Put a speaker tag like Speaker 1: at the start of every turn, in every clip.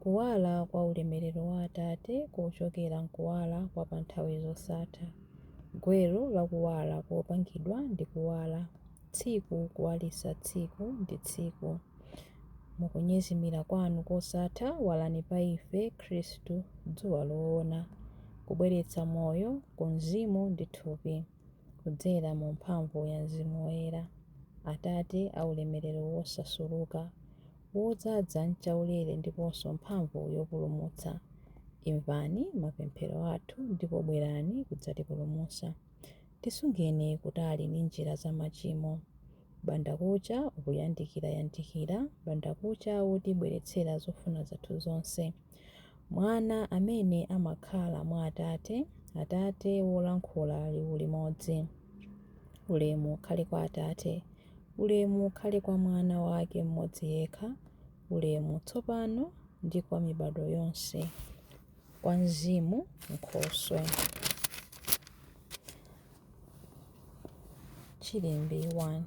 Speaker 1: Kuwala kwa ulemerero wa Atate kochokera m'kuwala kwa pa nthawi zosatha, gwero la kuwala kopangidwa ndi kuwala, tsiku kuwalitsa tsiku ndi tsiku. Mu kunyezimira Kwanu kosatha, walani pa ife, Khristu, Dzuwa lowona, kubweretsa moyo ku mzimu ndi thupi. kudzera mu mphamvu ya Mzimu Woyera, Atate a ulemerero wosasuluka, wodzadza m'chaulere ndiponso mphamvu yopulumutsa, imvani mapemphero athu ndipo bwerani kudzatipulumutsa. Tisungeni kutali ndi njira za machimo. Bandakucha ukuyandikira yandikira, bandakucha wotibweretsera zofuna zathu zonse. Mwana amene amakhala mwa Atate, Atate wolankhula liwu limodzi. Ulemu ukhale kwa Atate. Ulemu ukhale kwa Mwana Wake mmodzi yekha, ulemu tsopano ndi kwa mibadwo yonse, kwa Mzimu, Nkhoswe. Chilimbi 1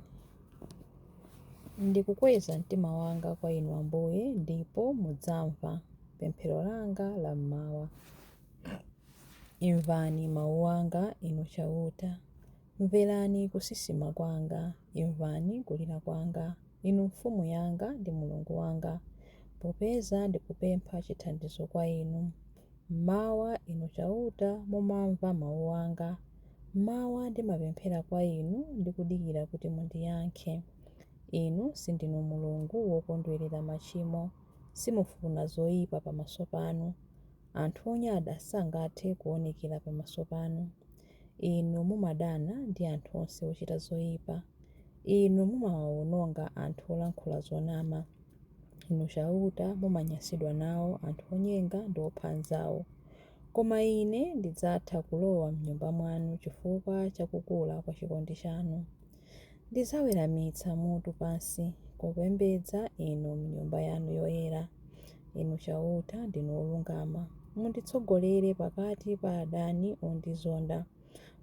Speaker 1: Ndikukweza mtima wanga kwa Inu Ambuye, ndipo mudzamva pemphero langa la mmawa. Imvani mawu anga, Inu Chauta, mverani kusisima kwanga, imvani kulira kwanga, Inu Mfumu yanga ndi Mulungu wanga, popeza ndikupempha chithandizo kwa Inu. M'mawa, Inu Chauta, mumamva mau anga. M'mawa ndimapemphera kwa Inu ndi kudikira kuti mundiyankhe. Inu sindinu Mulungu wokondwerera machimo, simufuna zoipa pamaso panu. Anthu onyada sangathe kuwonekera pamaso panu. Inu mumadana ndi anthu onse ochita zoipa. Inu mumawaononga anthu olankhula zonama. Inu Chauta, mumanyansidwa nawo anthu onyenga ndi opha anzao. Koma ine ndidzatha kulowa m'Nyumba mwanu chifukwa cha kukula kwa chikondi chanu. Ndidzaweramitsa mutu pansi kupembedza Inu m'Nyumba yanu yoyera. Inu Chauta, ndinu wolungama. Munditsogolere pakati pa adani ondizonda.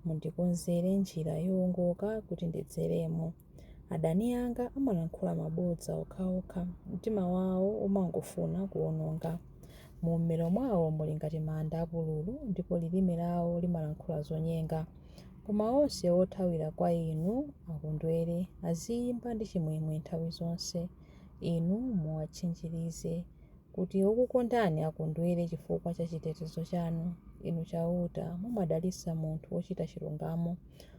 Speaker 1: Mundikonzere njira yoongoka kuti ndidzeremo. Adani anga amalankhula mabodza okhaokha, mtima wawo umangofuna kuwononga. Mummero mwawo muli ngati manda apululu, ndipo lilime lawo limalankhula zonyenga. Koma onse othawira kwa inu akondwere, aziyimba ndi chimwemwe nthawi zonse. Inu muwatchinjirize, kuti okukondani akondwere chifukwa cha chitetezo chanu. Inu Chauta, mumadalitsa munthu wochita chilungamo,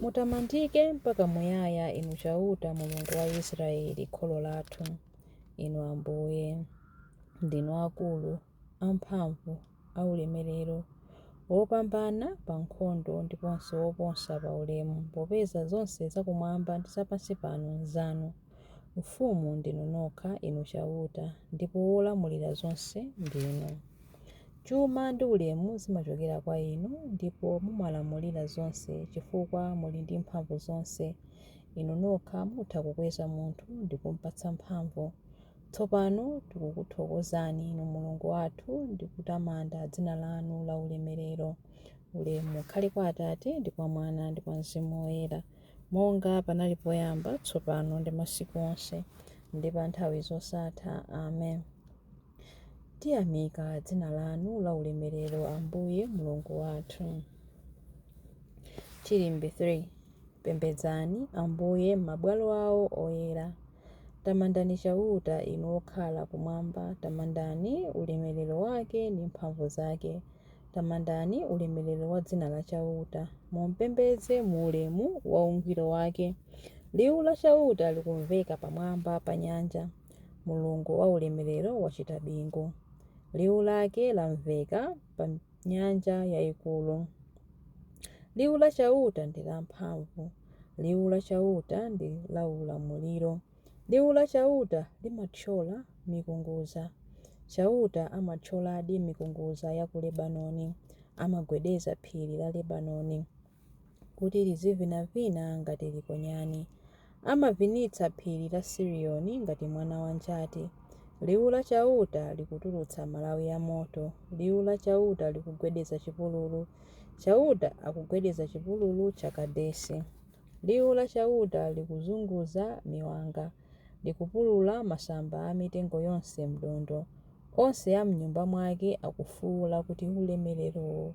Speaker 1: Mutamandike mpaka muyaya, Inu Chauta, Mulungu wa Israele, kholo lathu. Inu Ambuye, ndinu akulu, amphamvu, aulemerero, wopambana pa nkhondo ndiponso woposa pa ulemu, popeza zonse zakumwamba ndi zapansi pano n'zanu. Mfumu ndinu nokha, Inu Chauta, ndipo wolamulira zonse ndinu. Chuma ndi ulemu zimachokera kwa inu, ndipo mumalamulira zonse chifukwa muli ndi mphamvu zonse. Inu nokha mutha kukweza munthu ndi kum'patsa mphamvu. Tsopano tikukuthokozani, inu Mulungu wathu, ndi kutamanda dzina lanu laulemerero. Ulemu ukhale kwa Atate, ndi kwa Mwana, ndi kwa Mzimu Woyera, monga panali poyamba, tsopano, ndi masiku onse, ndi pa nthawi zosatha. Amen. Tiyamika dzina lanu la ulemerero, Ambuye Mulungu wathu. Chilimbi 3 Pembedzani Ambuye m'mabwalo awo oyera. Tamandani Chauta inu okhala kumwamba, tamandani ulemerero wake ndi mphamvu zake. Tamandani ulemerero wa dzina la Chauta, mumpembedze mu ulemu wa ungwiro wake. Liwu la Chauta likumveka pamwamba pa nyanja. Mulungu wa ulemerero wachita bingu, liwu lake lamveka pa nyanja yayikulu. Liwu la Chauta ndi lamphamvu, liwu la Chauta ndi laulamuliro. Liwu la Chauta limathyola mikungudza. Chauta amathyoladi mikungudza ya ku Lebanoni, amagwedeza phiri la Lebanoni. kuti lizivinavina ngati nkhonyani. Amavinitsa phiri la Sirioni ngati mwana wa njati. Liwu la Chauta likutulutsa malawi a moto, liwu la Chauta likugwedeza chipululu. Chauta akugwedeza chipululu cha Kadesi. Liwu la Chauta likuzunguza miwanga, likupulula masamba a mitengo yonse m'thondo. Onse a m'nyumba mwake akufuula kuti, Ulemerero!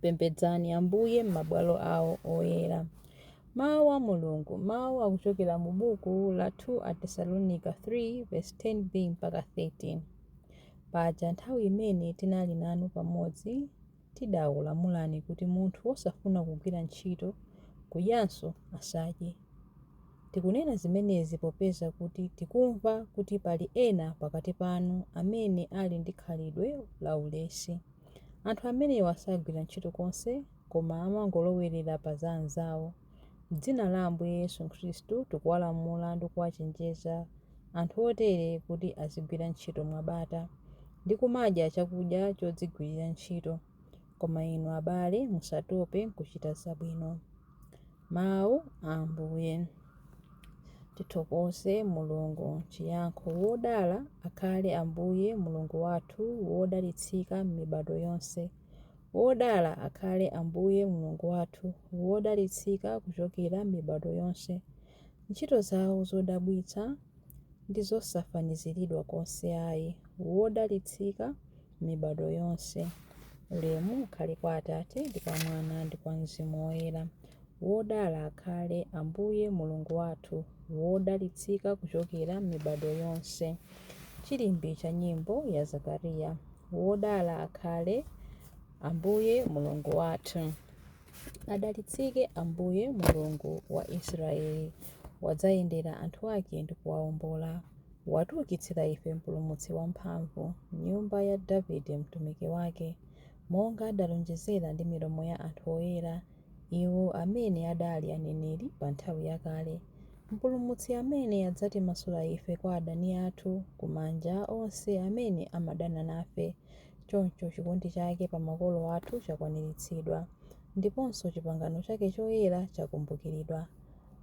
Speaker 1: Pembedzani Ambuye m'mabwalo awo oyera. Mawu a Mulungu, mawu akuchokera mu buku la 2 Atesalonika 3 verse 10b mpaka 13. Paja nthawi imene tinali nanu pamodzi, tidakulamulani kuti munthu wosafuna kugwira ntchito, kudyanso asadye. Tikunena zimenezi popeza kuti tikumva kuti pali ena pakati panu amene ali ndi khalidwe laulesi. Anthu amenewa sagwira ntchito konse koma amangolowerera pa za anzawo. M'dzina la Ambuye Yesu Khristu, tikuwalamula ndi kuwachenjeza anthu otere kuti azigwira ntchito mwabata ndi kumadya chakudya chodzigwirira ntchito. Koma inu abale, musatope kuchita zabwino. Mawu a Ambuye. Tithokoze Mulungu. Chiyankho Wodala akhale Ambuye Mulungu wathu wodalitsika m'mibado yonse. Wodala akhale Ambuye Mulungu wathu wodalitsika kuchokera m'mibado yonse. Ntchito zawo zodabwitsa ndi zosafaniziridwa konse ayi. Wodalitsika mibado yonse. Ulemu ukhale kwa Atate ndi kwa Mwana ndi kwa Mzimu Woyera. Wodala akhale Ambuye Mulungu wathu, wodalitsika kuchokera mibado yonse. Chilimbi cha nyimbo ya Zakariya. Wodala akhale Ambuye Mulungu wathu. Adalitsike Ambuye, Mulungu wa Israeli, wadzayendera anthu ake ndi kuwaombola. Watiukitsira ife Mpulumutsi wamphamvu, m'nyumba ya Davide mtumiki wake, monga adalonjezera ndi milomo ya anthu oyera, iwo amene adali aneneri pa nthawi yakale, Mpulumutsi amene adzatimasula ife kwa adani athu, ku manja a onse amene amadana nafe. Choncho chikondi chake pa makolo athu chakwaniritsidwa, ndiponso chipangano chake choyera chakumbukiridwa.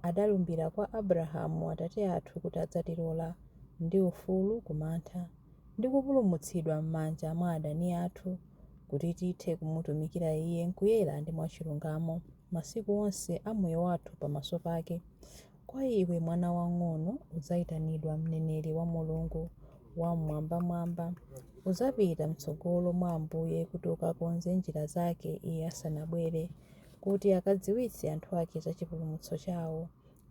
Speaker 1: Adalumbira kwa Abrahamu atate athu kuti adzatilola, ndi ufulu ku mantha, ndi kupulumutsidwa m'manja mwa adani athu, kuti tithe kumutumikira Iye m'kuyera ndi mwachilungamo, masiku onse a moyo wathu pamaso pake. Kwa iwe mwana wang'ono udzaitanidwa mneneri wa Mulungu Wam'mwambamwamba. Udzapita m'tsogolo mwa Ambuye kuti ukakonze njira zake Iye asanabwere, kuti akadziwitse anthu ake za chipulumutso chawo,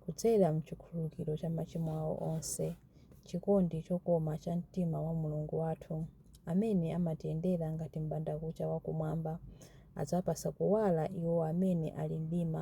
Speaker 1: kudzera m'chikhululukiro cha machimo awo onse. Chikondi chokoma cha mtima wa Mulungu wathu, amene amatiyendera ngati m'bandakucha wa kumwamba, adzapatsa kuwala iwo amene ali m'mdima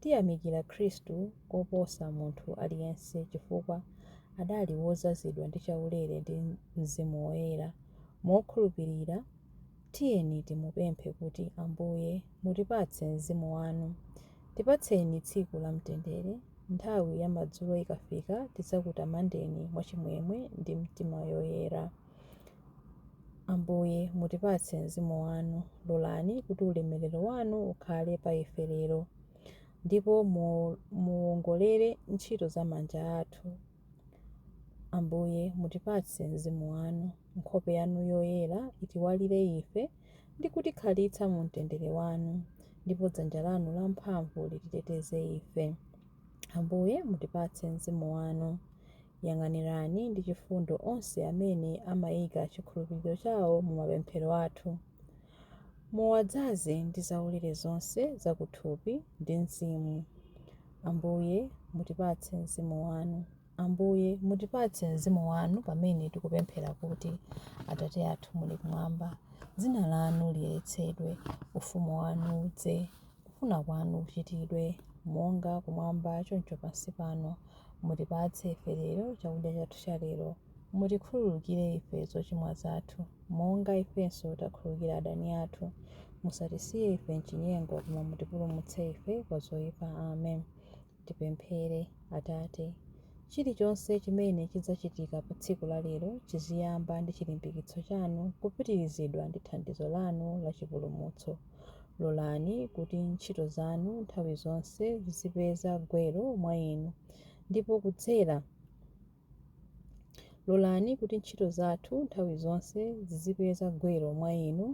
Speaker 1: Tiyamikira Khristu koposa munthu aliyense chifukwa adali wodzazidwa ndi chaulere ndi Mzimu Woyera. Mokhulupirira tiyeni timupemphe kuti, Ambuye, mutipatse Mzimu wanu. Tipatseni tsiku la mtendere. Nthawi ya madzulo ikafika tidzakutamandeni mwachimwemwe ndi mtima yoyera. Ambuye, mutipatse Mzimu wanu. Lolani kuti ulemerero wanu ukhale pa ife lero, ndipo muwongolere ntchito za manja athu. Ambuye, mutipatse Mzimu wanu. Nkhope yanu yoyera itiwalire ife ndi kutikhalitsa mu mtendere wanu, ndipo dzanja lanu lamphamvu lititeteze ife. Ambuye, mutipatse Mzimu wanu. Yang'anirani ndi chifundo onse amene amaika chikhulupiriro chawo mu mapemphero athu. Muwadzaze ndi zaulere zonse za kuthupi ndi mzimu. Ambuye, mutipatse Mzimu wanu. Ambuye, mutipatse Mzimu wanu pamene tikupemphera kuti, Atate athu muli kumwamba, dzina lanu liyeretsedwe, ufumu wanu udze. Kufuna kwanu kuchitidwe, monga kumwamba choncho pansi pano. Mutipatse ife lero chakudya chathu cha lero. Mutikhululukire ife zochimwa zathu, monga ifenso takhululukira adani athu. Musatisiye ife m'chinyengo, koma mutipulumutse ife kwa zoipa. Amen. Tipemphere. Atate, chilichonse chimene chidzachitika pa tsiku la lero chiziyamba ndi chilimbikitso chanu kupitirizidwa ndi thandizo lanu la chipulumutso. Lolani kuti ntchito zanu nthawi zonse zizipeza gwero mwa inu, ndipo kudzera. Lolani kuti ntchito zathu nthawi zonse zizipeza gwero mwa Inu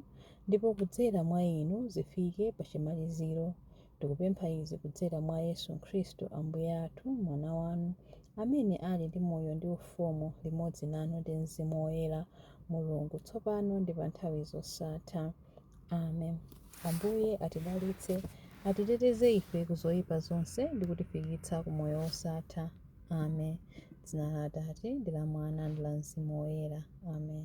Speaker 1: ndipo kudzera mwa Inu zifike pa chimaliziro. Tikupempha izi kudzera mwa Yesu Khristu Ambuye athu, Mwana wanu, amene ali ndi moyo ndi ufumu limodzi nanu ndi Mzimu Woyera, Mulungu, tsopano ndi pa nthawi zosatha. Amen. Ambuye atidalitse, atiteteze ife ku zoyipa zonse ndi kutifikitsa ku moyo wosatha. Amen. Dzina la Atate ndi la Mwana ndi la Mzimu Woyera. Amen.